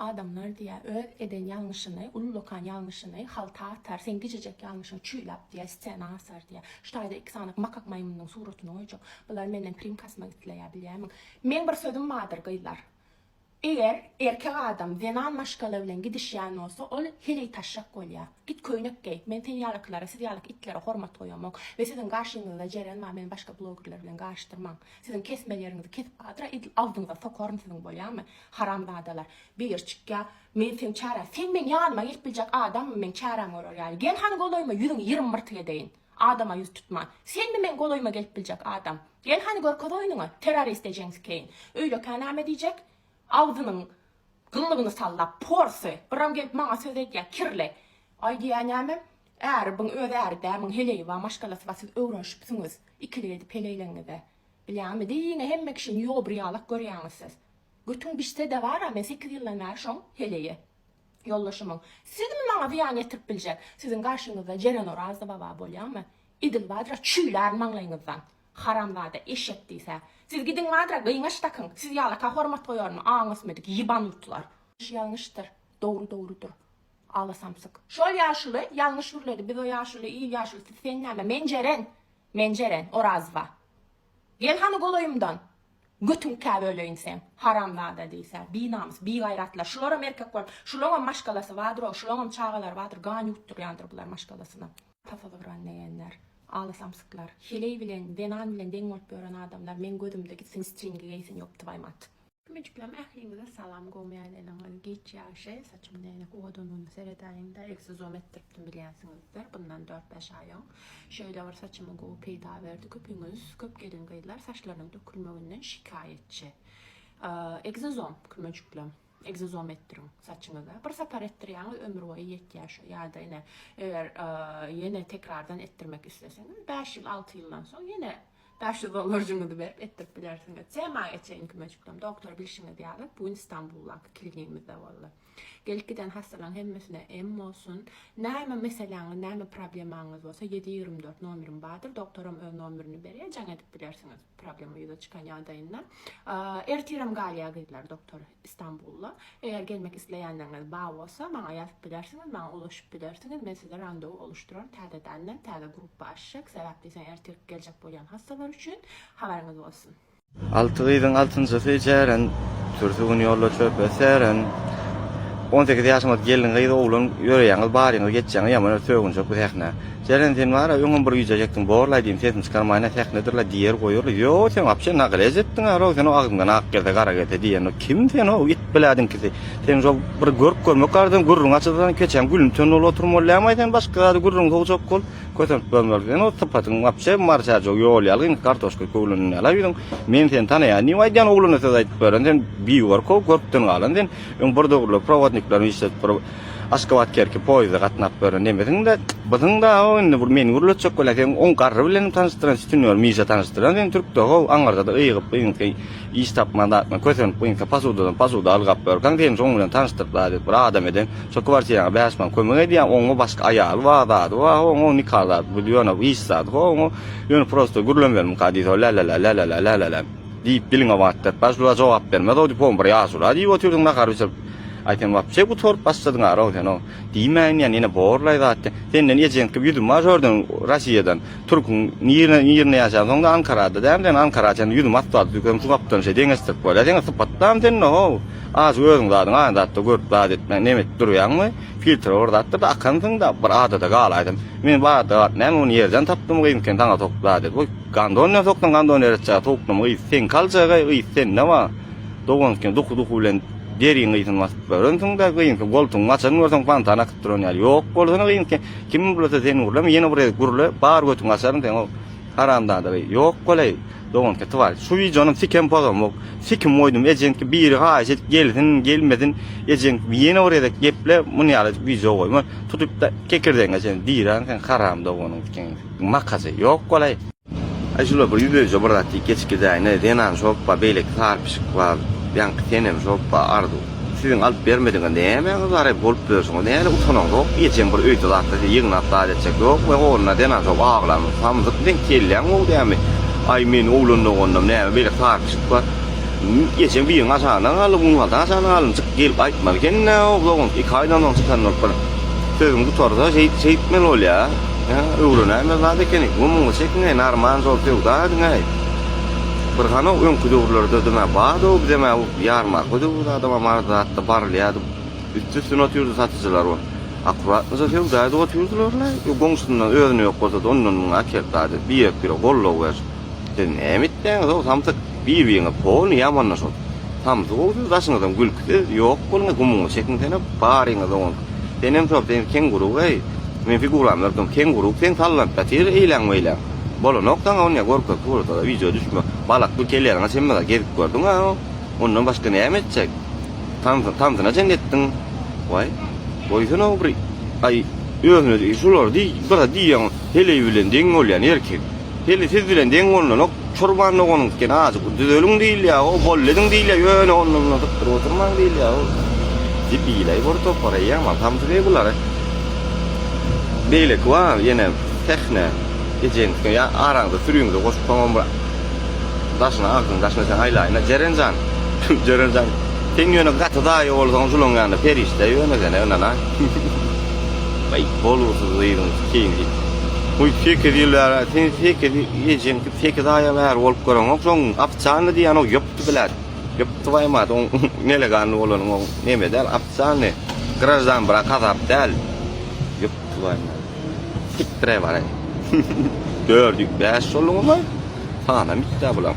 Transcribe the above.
Adamlar diýä, öz eden ýalňyşyny, ullakan ýalňyşyny halta atar, seň gijejek ýalňyşyň çüýlap diýä, stena asar diýä. Şu taýda iki sany makak maýmynyň suratyny goýjak. Bular menden primka asmak isleýär, bilýämiň. Meň bir sözüm bardyr, gyzlar. Eger erkek adam zenan maşgala bilen gidişýän bolsa, ol heleý taşşak bolýar. Git köýnek geý. Men sen ýalykylara, siz ýalyk itlere hormat goýamok. We siziň garşyňyzda jeren bar, meni başga blogerler bilen garyşdyrmaň. Siziň kesme ýeriňizi kesip badyra edil agzyňyza sokaryn siziň, bolýamy? Haramzadalar, beýer çykýa, men seň çärä, sen meň ýanyma gelip biljek adammy, meň çärämi görer ýaly, gel hany golaýyma, ýüzüňi ýirim myrtyk edeýin. Adama ýüz tutman. Senmi meň golaýyma gelip biljek adam? Gel hany görkez oýnuňy, terrorist ejeň sikeýin. Öýlekä näme diýjek? Agzynyň gyllygyny sallap, porsy, byram gelip maňa söz edýä, kirli. Aý diýýä nämem, äri byň öz äri dä, muň heleýi ba, maşgalasy ba, siz öwrenişipsiňiz, ikilik edip heleýleňňize. Bilýäňmi, diýiňe hemme kişini ýobur ýalak görýäňiz siz. Götüň bişsede bara men sekiz ýyldan bäri şoň heleýe ýoldaşymyň. Sizmi maňa zyýan ýetirip biljek? Siziň garşyňyzda Jeren Orazly baba bolýamy? Idil badra çüýlär maňlaýyňyzdan. Haramzada eşek diýsä. Siz gidiň badra gyňaç dakyň. Siz ýalaka hormat goýarmy aň ösmedik ýybanutlar. Ýalňyş ýalňyşdyr, dogry dogrudyr. Ala samsyk. Şol ýaşuly ýalňyş gürledi biz o ýaşuly il ýaşulysy sen näme men Jeren men Jeren Orazva gel hany golaýymdan. Götüň kä böleýin seň, haramzada diýsä, binamys, bigaýratlar, şularam erkek bolup, şulaňam maşgalasy bardyr-ow, şulaňam çagalary bardyr, gan ýutdurýandyr bular maşgalasyna. Tasa zygran degenler, aly samsyklar, heleý bilen, zenan bilen deň bolup ýören adamlar meň gözümde gitsin stringi geýsin ýok twaýmat. Kümejiklerim ähliňize salam gowmy ýalyňyz giç ýagşy saçymda ýene howa donuny seredäýiňda egsi zom etdiripdim bilýänsiňizdir bundan dört bäş aý oň Şeýle bir saçymy gowy peýda berdi köpiňiz köp gelin gyzlar saçlarynyň dökülmeginden şikaýetçi ekzozom kümejikleň ekzozom etdiriň saçyňyza bir sapar etdirýäňiz ömür boýy ýetýär şo ýada ine eger ýene tekrardan etdirmek isleseňiz bäş ýyl alty ýyldan soň ýene bäş ýüz dollarjyňyzy berip etdirip bilersiňiz tema geçeýin kümejiklem doktor bilşiňiz ýaly bu gün istanbuldaky klinigimizde boldy. Gelip giden hassalaň hemmesine em bolsun. Name meseleňiz name problemaňyz bolsa ýedi ýigrimi dört nomerim bardyr doktoram öz nomerini berýär jaň edip bilersiňiz problema ýüze çykan ýagdaýynda. Ertirem galýar gyzlar doktor Istanbulda. Eger gelmek isleýänleriňiz bar bolsa maňa ýazyp bilersiňiz maňa ulaşyp bilersiňiz men size randewu oluşdyraryn täzedenden täze gruppa açjak sebäp diýseň ertirki geljek bolýan hassalar üçin habaryňyz bolsun. Alty gyzyň altynjysy Jeren, Türsi gün ýolda çöpe seren. On sekiz ýaşymyz gelin gyz oglan Ýöreýäňiz baryňyz geçýäňiz ýaman öl Sögünjek bu sähne. Jeren sen bara öňem bir güýjejekdiň borlaý diýdim sesini çykarmaýyn-a sähnedirle diýer goýarly Ýoo sen wapşe nagrez etdiňä-row sen o agzyňdan ak gelse gara gelse diýen-o kim sen o it blädiňkisi seň şo bir görk görmek arzyň gürrüň açylsa keçäň gülüň tönüň ol oturmaly dämaý sen başga zady gürrüň sogjak bol Kösenip görmeli sen o sypatyň wapşe marşajok ýol ýaly indi kartoşka köwleniň ýala ýüzüň men seni tanaýan diýip aýdýan ogluna söz aýdyp beren sen biýuwar ko görpden galan sen öň bir döwürler prowodniklerini işledip bir Aşgabat Kerki poýizde gatnap beren nemesiň de bysyň da o indi bir meni gürletjek bolýa sen oň garry bilenim tanyşdyran sütünýor mişa tanyşdyran sen türkde ho aňyrda da ygyp yňyp Iş tapman zatma kösenip gynka pasudadan pasuda algap börkaň seni şoň bilen tanyşdyryp zat edip bir adam eden şo kwartiraňa bäş man kömek edýän oňňo başga aýaly bar zady bar ho oňňo nika zady bu ýöne iş zady ho oňňo ýöne prosta gürlem bermka diýdi ho lälälä lälälä lälälä diýip diliňe batdyryp bäş lula jogap bermez ho dipom bir ýaşula diýip otyrdyň nahar bişirip aý sen wapşe gutaryp başladyň ara ho sen ho diýmäýin ýa nine borlaý zat de senden ejeňki ýüzüm bar şordan rasiýadan Türküň nirne nirne ýaşansoňda Ankarada däl sen Ankara çenli ýüzümi asfalt dükem şu gapdan şeý deňeşdirip bolýa seňe sypatdam sende how az özüň zadyň aýan zatda görüp zat etme nem edip durýaňmy filtra bir zatdyr da akansyňda bir adada galaýdym men bu adada galyp näme ony ýerden tapdym gyn sen saňa sokdy zat edip oý gandon bilen sokdyň gandon ýere çaga sowukdym gys seňki aljaga gys sende ba dogan sen duhu duhu bilen deriň gysyn basyp görensiňda gyn sen goltugyňy açan görseň pantan Duran ýaly ýok bolsana gyým sen kim gurlasa sen gurlama ýene bir gezek gurla bar götüňi açaryn seň o haramzada gyý ýok bolaý doganka twal şu wideonyň sikem pozamok sikim goýdum ejeňki biri haýyş edip gelsin gelmesin ejeň ýene bir gezek geple muny ýaly wideo goýma tutupda kekirdegiňe çenli diýran sen haram doganyň sikiň makazy ýok bolaý. Aý şular bir ýüzüje bir zat diýip geçip gidäýne zenan şopba beýleki sary pişik bar ýaňky senem şopba arzuw siziň alyp bermediňiz nämäňiz bar eb bolup ýörsiňiz näle utanaňzok ejeň bir öýde zatda sizi ýygnap zat etjek ýok we onda zenan şop aglan samsyk deň kelläň gowy dämi aý meni oglan doganyňam näme beýleki sary pişik bar ejeň biriň aşagynda galdy muň halda aşagynda galdym çykyp gelip gaýtmaly ekeni näme bolup dogan iki aýdan soň çykan bolup bir sözüň gutarsa şeýt şeýtmeli bolýa. Ýa öwrenäýmez zat ekeni. Gumuňy çekiňäý, narman zor söwda ediňäý. Bir hany öňki döwürlerde dymä bardy-ow bizem-ä bu ýarmarka döwürde adama maraz zatda barylýardy. Üsti-üstüne otyrdy satyjylar bolup. Akuratnyja söwda edip otyrdylar-la. Goňşusyndan özüne ýok bolsa-da ondan-mundan akertadi. Birek-birege goldaw berşip. Siz näme etýäňiz-ow, samsyk? Bir-biriňiz hony ýaman-da şol. Samsyk-ow siz, daşyňyzam gülküsiz, ýok boluň-aý, gumuňyzy çekiň senem, baryňyz oňa. Senem şol, sen kenguru-aý. Meniň figuram ýörkäm kenguru, sen sallanyp ýatyr eýläň-meýläň. Bolanok saňa ony-a görkez surata-da, wideo düşme. Balakly kelläňe çenli-a gezip gördüň-ä oň. Ondan başga näme etjek? Tans, tansyna çenli etdiň. Waý, goýsana-ow bir, aý, özüne şulary diý, bir-a diýýäň, heleý bilen deň bolýan erkek. Heli siz bilen deň bolnanok, çurban doganyňyzken azajyk bir düzeliň diýilýär, o bolly ediň diýilýär, ýöne onda munda zykdyryp oturmaň diýilýär, ol debilaý bir topar, eý Aman Hamzy beý bulary beýleki bar, ýene Sähne ejeňiňkiň ýa araňyza süriňize goşup soňam bir daşyna agzyňy daşyna sen aýlaýyna Jeren jan, Jeren jan sen ýöne gaty daýy bolsaň julaň ýanynda perişde ýöne sen ynanaý. Aý bolgusyz gyzyň seýdi. Guý sekiz ýyl bäri sen sekiz ejeň sekiz aýa bäri bolup göreňok şoň apçanny diýýän o ýupdy blät ýupdy baýmat oň nelegalny bolany oň neme däl apçanny graždan brak azap däl ýupdy baýmat sikdirä bar dördi bäş şoluňmy sanam itdä bulaň.